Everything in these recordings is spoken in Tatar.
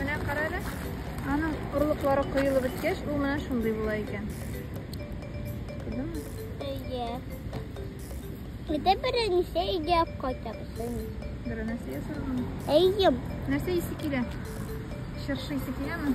Менә кара әле. Аның орлыклары коелып беткәч, ул менә шундый була икән. Күрдеңме? Әйе. Әйдә беренче өйгә алып кайтабыз. Беренче ясармын. Әйе. Нәрсә исе килә? Чыршы исе киләме?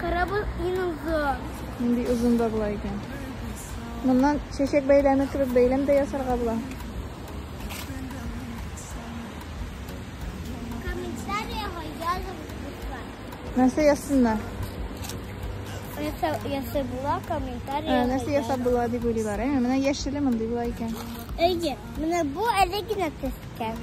Корабль иң озын. Нинди озын да була икән. Моннан чәчәк бәйләме кебек бәйләм дә ясарга була. Комментариягә язып була. Нәрсә язсыннар? Нәрсә ясый була комментария. Нәрсә ясап була дип уйлыйлар. Ә менә яшеле мондый була икән. Әйе, менә бу әле генә төскән.